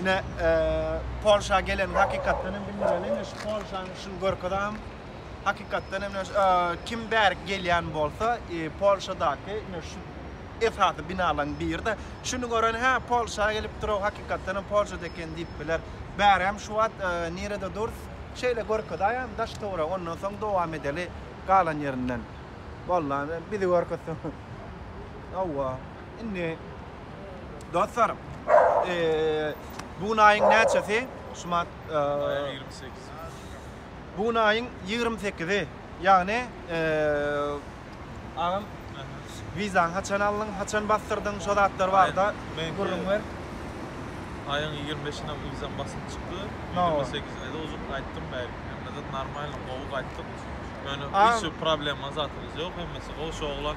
Ine, Polşa geleniň hakykatdan hem bildireli. Ine şu Polşanyň şuny görkezem. Hakykatdan hem kim bärik gelýän bolsa, Polşadaky ine şu esasy binalaryň biri-de. Şuny gören, hä, Polşa gelipdir-ow, hakykatdan hem Polşada eken diýip biler. Bärem şu wagt nirede durs? Şeýle görkezäýem daş-töweregi, ondan soň dowam edeli galan ýerinden. Bollan, bizi görkezseň. Hawa. Indi dostlar, bu gün aýyň näçesi? Şumat aýyň 28. Bu gün aýyň 28-i. Ýagny agam wizaň haçan aldyň, haçan basdyrdyň, şo zatlar barada gürrüň ber. Aýyň 25-inde wizam basyp çykdy. 28-inde de uzun gaýtdym bäri. Hemme zat normalny, gowy gaýtdym. Ýöne hiç bir problema zatymyz ýok. Hemmesi gowy. Şu oglan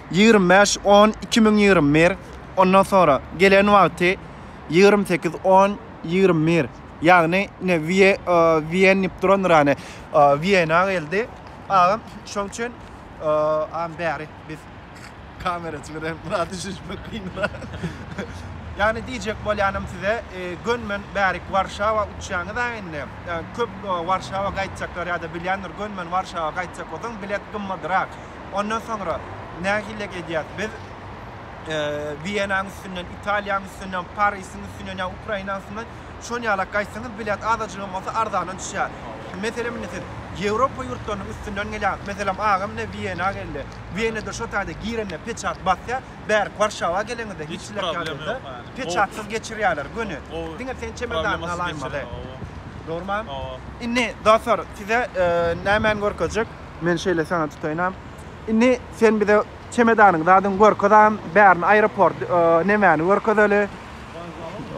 Ýigrimi bäş on iki müň ýigrimi bir Ondan sonra gelen wagty ýigrimi sekiz on ýigrimi bir Ýagny ine Wiýe Wiýen diýip durandyr ýany Wiýena geldi agam şoň üçin am bäri biz kameraçy bilen biraz düşünişmek kynra Ýagny diýjek bolýanym size gönmen bärik Warşawa uçýaňyz a indi köp Warşawa gaýtjaklar ýa-da bilýändir gönmen Warşawa gaýtjak bolsaň bilet gymmadyrak Ondan soňra nähilek edýäs? Biz Wiýenanyň üstünden, Italiýanyň üstünden, Parisiň üstünden ýa Ukrainanyň üstünden şon ýalak gaýtsaňyz bilet azajygam bolsa arzana düşýär. Meselem indi siz Ýewropa ýurtlarynyň üstünden gelýäňiz. Meselem agam indi Wiýena geldi. Wiýenede şo taýda girende peçat basýar. Bärik Warşawa geleňizde hiç hiç problem ýok. Peçatsyz geçirýärler göni. Diňe sen çemedanyňy alaýmaly. Dogrymy? Indi dostlar size nämäni görkezjek? Men şeýle sana tutaýynam. Indi sen bize çemedanyň zadyň görkezäm, bärini aeroport, nemäni görkezeli.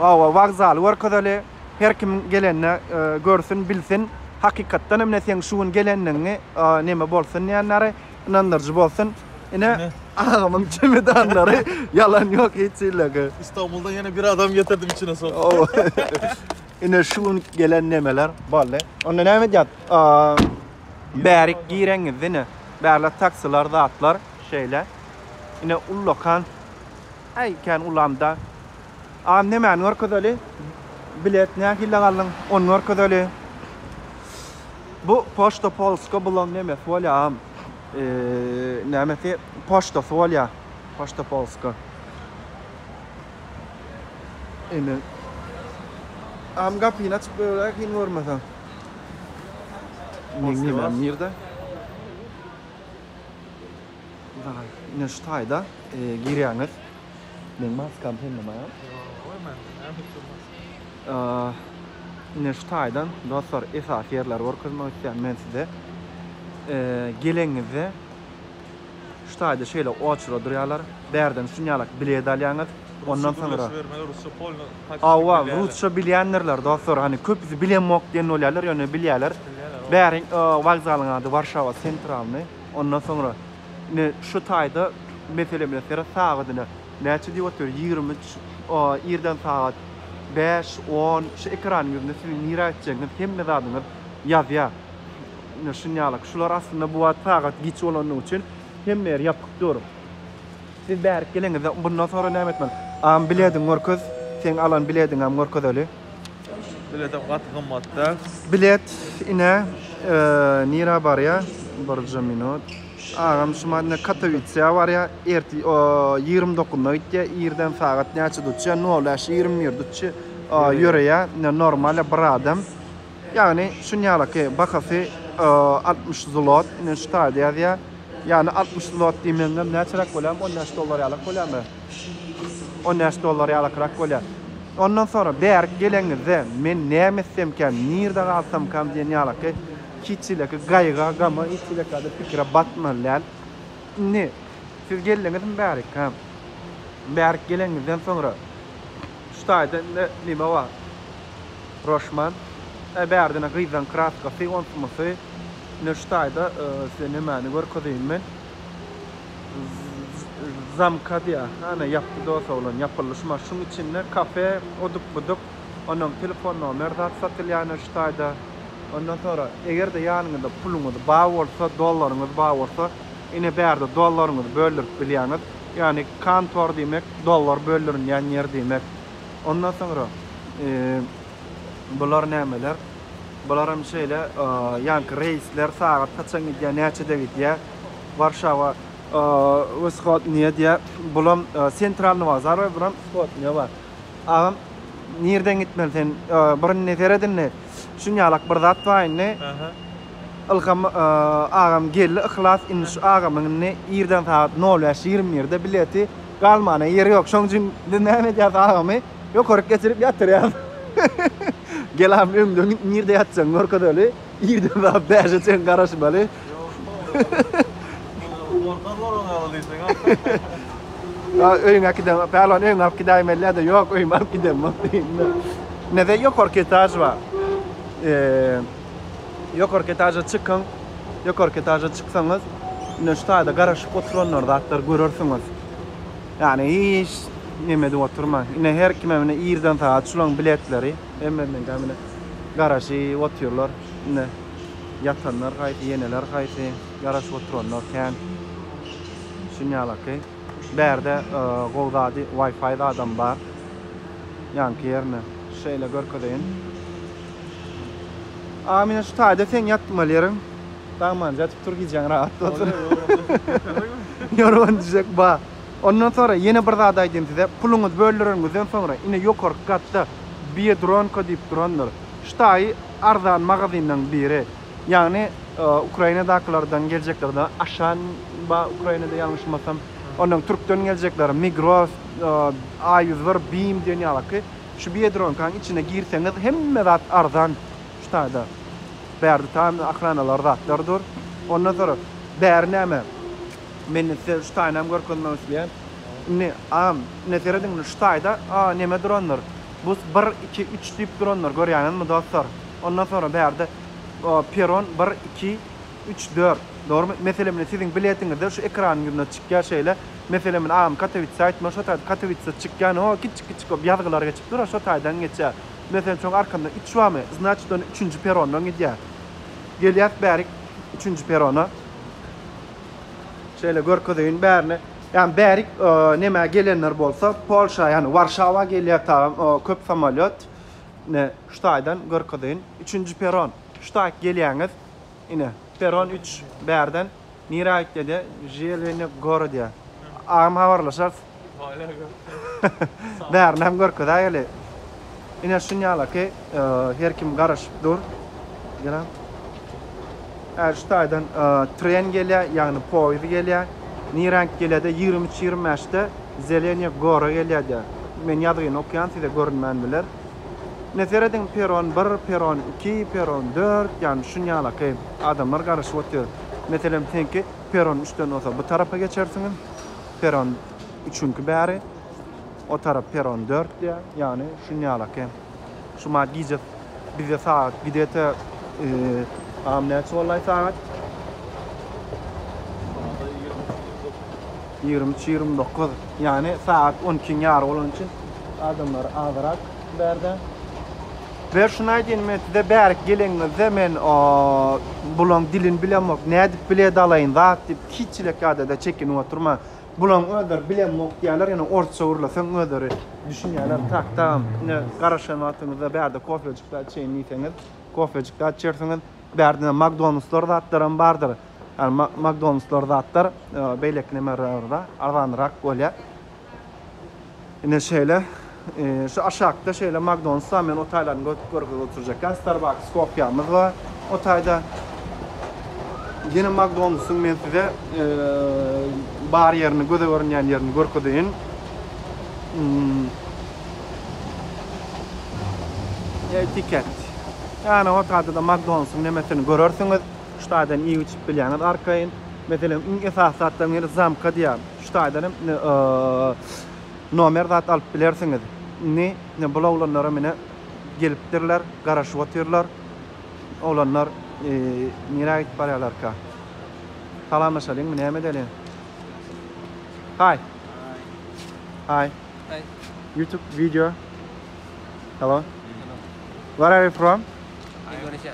Awa, wokzaly görkezeli. Her kim gelende görsün, bilsin. Hakykatdan hem ine seň şu gün gelendigiňi neme bolsun diýenleri, ynandyryjy bolsun. Ine agamyň çemedanlary, ýalan ýok hiç hillege. Istanbuldan ýene bir adam getirdim içine sokup. Ine şu gün gelen nemeler boldy. Onda näme edýäs? Bärik gireňiz ine bärde taksiler zatlar şeýle ine ullakan äý kän ulamda a nemäni görkezeli bilet nähili galyn ony görkezeli bu poçta polska bulan nemesi bolýa a nämesi poçtasy bolýa poçta polska indi am gapyny açyp goýaýaly görmeseň. Meňňe men nirde? Daýy, ine şu taýda girýäňiz. Meň maskam sende maý? Ýok, mende näme üçin maska? Ine şu taýdan dostlar esasy ýerleri görkezmek isleýän men size. Geleňizde Şu taýda şeýle oçura durýarlar. Bärden şun ýalak bilet alýaňyz. Ondan soňra. Hawa, rusça bilýändirler dostlar. Hany köpüsi bilemok diýen bolýarlar, ýöne bilýärler. Bäriň wokzalyň ady Warşawa Sentralny. Ondan soňra ine şu taýda mesele bilen seret sagadyna. Näçe diýip otyr? Ýigrimi üç. Irden sagat bäş, on. Şu ekranyň ýüzünde siziň nirä gitjegiňiz, hemme zadyňyz ýazýar. Ine şunýalyk. Şular aslynda bu wagt sagat giç bolandygy üçin hemme ýer ýapyk dur. Siz bärik geleňizde bundan soňra näme etmeli? Agam bilediňi görkez. Seň alan bilediňem görkezeli. Biletem gaty gymmat däl. Bilet ine nirä barýa? Birje minut. Agam şu madne Katowitsiýa barýa. Ertir ýigrimi dokuzynda gitýä. Irden sagat näçede uçýa? Nol bäş ýigrimi bir uçýa. Ýöreýä. Ine normalýa bir adam. Ýagny şunýalaky bahasy altmyş zlot, ine şu taýda ýazýar. Ýagny altmyş zlot diýmegiňem näçeräk bolýar? On bäş dollar ýalak bolýarmy? On bäş dollar ýalakrak bolýar. Ondan soňra bärik geleňizde men näme etsemkäm, nirde galsamkam diýen ýalaky hiç hileky gaýga, gama, hiç hilekäde pikire batmaly däl. Indi siz geldiňizmi bärik, hä? Bärik geleňizden soňra şu taýda indi näme bar? Roşman. Äý bärde ine gyzlaň kraskasy, onsy munsy. Ine şu taýda size nemäni görkezeýin men. Z zamka diýýä. Hany ýapdy dos oglan, ýapyldy şu maş. Şuň içinde kafe, oduk-buduk, onnoň telefon nomer zat satylýar ine şu taýda. Ondan soňra eger-de ýanyňyzda puluňyz bar bolsa, dollaryňyz bar bolsa, ine bärde dollaryňyzy böldürip bilýäňiz. Ýagny kantor diýmek dollar böldürilýän ýer diýmek. Ondan soňra bular nämeler? Bularam şeýle ýanky reýsler sagat haçan gidýär, näçede gidýär? Warşawa wschodnyýe diýýär. Bulam sentralny bazar we buram wschodnyýe bar. Agam nirden gitmeli sen? Bir indi seret indi. Şun ýalak bir zat bar indi. Ilham agam geldi, Yhlas indi şu agamyň indi irden sagat 05:21-de bileti Galmana ýeri ýok. Şoň üçin biz näme edýäris agamy ýokaryk geçirip ýatyrýarys. Gel agam öňde nirde ýatjagyňy görkezeli. Irden sat bäşe çen garaşmaly. Orta zoruna ýaly diýseň agam. Öýüňe gidem. Pälwan öýüňe alyp gidäýim elläde. Ýok öýüme alyp gidemok diýdim-de. Ine de ýokarky etaž bar. Ýokarky etaža çykyň. Ýokarky etaža çyksaňyz, ine şu taýda garaşyp oturanlar zatlar görersiňiz. Ýagny hiç neme edip oturmaň. Ine her kime ine irden sagat şulaň biletleri. Hemmenin gamine garaşyp otyrlar. Ine ýatanlar haýsy, ýeneler haýsy, garaşyp oturanlar kän. Şunýalaky. Bärde gowy zady Wi-Fi zadam bar. Ýaňky ýerine şeýle görkezeýin. Amine şu taýda seň ýatmaly ýeriň dagmanja ýatyp tur gijäň rahat bolsun. Ýorgan düşek ba. Ondan soňra ýene bir zat aýdayyn size puluňyzy böldüreniňizden soňra ine ýokarky gatda biedronka diýip durandyr şu taýy arzan magazinlaň biri ýagny Ukrainadakylardan geljeklerden Aşan ba Ukrainada ýalňyşmasam ondan türkden geljekler Migros A ýüz bir Bim diýen ýalyky Şu biedronkaň içine girseňiz hemme zat arzan şu taýda. Bäri tutan ahranalar zatlar dur. Ondan soňra bäri näme? Men size şu taýynam görkezmek isleýän. Indi a ine serediň indi şu taýda a neme durandyr. Bu bir iki üç diýip durandyr görýäňizmi dostlar. Ondan soňra bärde peron bir iki. Üç, dört. Dogrumy? Meselem ine siziň biletiňizde şu ekranyň ýüzünde çykýar şeýle. Meselem ine agam Katowitse aýtmaly şo taýda Katowitse çykýar ine ho kiçjik kiçjik bolup ýazgylar geçip dur şo taýdan geçýär. Meselem şoň arkasynda üç barmy znaçit ony üçünji perondan gidýäs. Gelýäs bärik üçünji perona. Şeýle görkezeýin bärine. Ýagny bärik nemä gelenler bolsa Polşa ýagny Warşawa gelýär tagam köp samolýot. Ine şu taýdan görkezeýin. Üçünji peron. Şu taýt gelýäňiz. Ine, perron üç bärden nirä gitdede želeni gora diýä. Agam habarlaşarys. Bärinem görkezä geli. Ine şunýala ki, her kim garaşyp dur. Gel. Äri şu taýdan tren gelýä, ýagny poýuz gelýä. Nirä gelede 23-25-de zeleniýe gora gelýä diýä. Men ýazgyny okýan size görünmän biler. Ine serediň peron bir, peron iki, peron dört, ýagny şunýalaky adamlar garaşyp otyr. Meselem seňki peron üçden bolsa bu tarapa geçersiň, peron üçünki bäri o tarap peron dört diýä, ýagny şunýalaky. Şuma gije bize sagat gidete am näçe bollaý sagat? Sada ýigrimi üç ýigrimi dört. Ýigrimi üç, ýigrimi dokuz, ýagny sagat on ikiň ýary bolany üçin adamlar azyrak bärde. We şuny aýdýyn men size bärik geleniňizde men bulaň dilini bilemok, nädip bile dalaýyn zat diýip hiç çilek ýadada çekinip oturma. Bulaň özleri bilemok diýýärler, ýöne orsça gürleseň özleri düşünýärler. Tak tagam ine garaşan wagtyňyzda bärde kofejik zat içeýin diýseňiz, kofejik zat içersiňiz. Bärde magdonuslar zatlaram bardyr. Ýani Makdonaldslar zatlar beýleki nämelerden arzanyrak bolýar. Ine şeýle şu aşakda şeýle Makdonalds bar. Men o taýlaryny görüp görkezip oturjakan. Starbucks kopiýamyz bar. O taýda ýene Makdonaldsyň men size bar ýerini göze görünýän ýerini görkezeýin. Etiket. Ýani o taýda da Makdonalsyň nemesini görersiňiz. Şu taýdan iýip içip bilýäňiz arkaýyn. Meselem iň esasy zatlaryň biri zamka diýýär. Şu taýdan hem indi nomer zat alyp bilersiňiz. Indi indi bul oglanlaram indi gelipdirler, garaşyp otyrlar. Oglanlar nirä gidip barýarlarka? Salamlaşalyňmy, näme edeliň? Hi. Hi. Hi. YouTube video. Hello. Where are you from? Indonesia.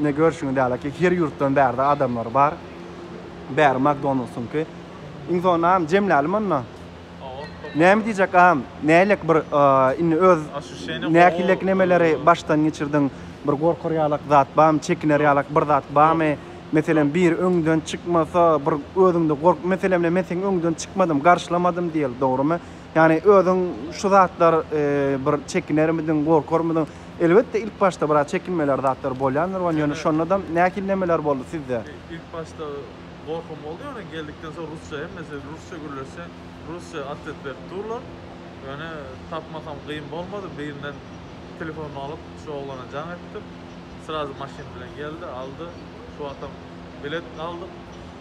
Ine görşüňiz ýaly ki her ýurtdan bärde adamlar bar. Bäri Makdonaldsynky. Iň soňunda agam jemläli onda. Näme diýjek agam? Nälik bir indi öz nähilek nemeleri başdan geçirdiň? Bir gorkar ýalak zat barmy? Çekiner ýalak bir zat barmy? Meselem biri öňden çykmasa bir özüňde gork meselem men seň öňden çykmadym garşylamadym diýeli dogrymy? Ýagny özüň şu zatlar bir çekinermidiň, gorkarmydyň? Elbetde ilk başda biraz çekinmeler zatlar bolýandyr wan ýöne şonadam nähili nemeler boldy sizde? Ilk başda gorkym boldy ýöne geldikden soň rusça hemmesi rusça gürleşse rusça atwet berip durlar. Ýöne tapmasam gyn bolmady birinden telefonyny alyp şu oglana jaň etdim. Srazy maşyn bilen geldi aldy şu wagtam bilet aldyk.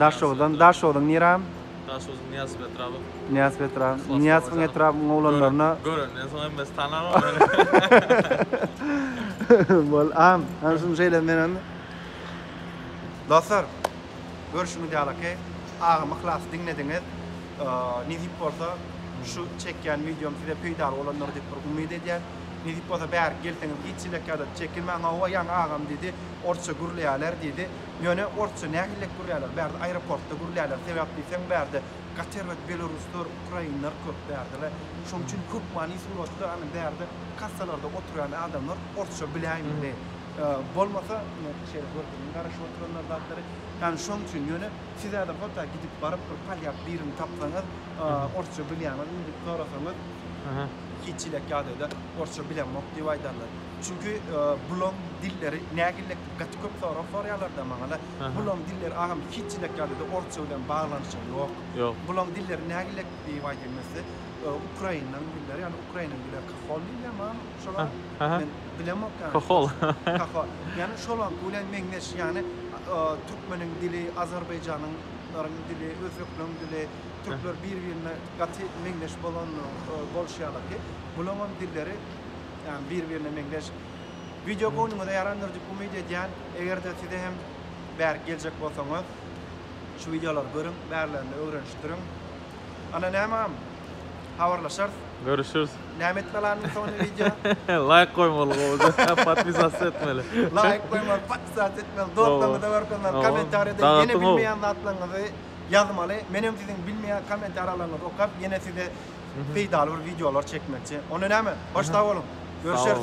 Daşoguzdan Daşoguzyň Niram. Daşoguzyň Nyýas Petrabyň. Nyýas Petrabyň. Nyýas Petrabyň oglanlaryna. Görenden soň hemmesi tanar ony. Bol am. Ana şuny şeýle men hem. Dostlar, görşüňiz ýaly ki, agam yhlasy diňlediňiz. Nesip bolsa, şu çekýän wideom size peýdaly bolandyr diýip bir umyt edýän. Nesip bolsa bärik gelseňiz hiç çilek ýa-da çekilmäň. Hawa, ýaňy agam diýdi, orsça gürleýäler diýdi. Ýöne orsça nähillek gürlärler bärde aeroportda gürlärler sebäp diýseň bärde gater we beloruslar ukrainler köp bärdele şoň üçin köp many suratda ane bärde kassalarda oturýan adamlar orsça biläýmeli bolmasa şeýle görkeziň garaşyp oturanlar zatlary ýani şoň üçin ýöne sizäde hota gidip baryp bir polýak birini tapsaňyz orsça bilýäňizmi diýip sorasaňyz hiç hile ýagdaýda orsça bilemok diýip aýdarlar çünki bulaň dilleri nähillek Gaty köp sorag sorýarlarda maňala bulaň diller agam hiç ýilek ýalyda orsça bilen baglanyşygy ýok. Ýok. Bulaň dilleri nägilek diýip aýdylmese ukrainaň dilleri ýani ukrainaň dili kahol diýilýär maňa şola men bilemok ýani. Kahol. Kahol. Ýani şolaňky bilen meňzeş ýani türkmeniň dili azarbaýjanyň laryň dili özbeklaň dili türkler bir birine gaty meňzeş bolan boluşýarlar ki bulaňam dilleri ýani bir birine meňzeş. Wideo göwnüňize ýarandyr diýip umyt edýän. Eger-de size hem bärik geljek bolsaňyz şu wideolary görüň, bärlerini ögrenişdiriň. Ana nämem, habarlaşarys. Görüşüris. Näme edip galanyň soňunda wideo? Laýk goýmaly gowja, podpisats etmeli. Laýk goýmaly, podpisats etmeli, dostlaryňyza görkezmeli, kommentariýada ýene bilmeýän zatlaryňyzy ýazmaly. Menem siziň bilmeýän kommentariýalaryňyzy okap ýene size peýdaly bir wideolar çekmekçi. Onda näme? Hoş sag boluň. Görüşeris.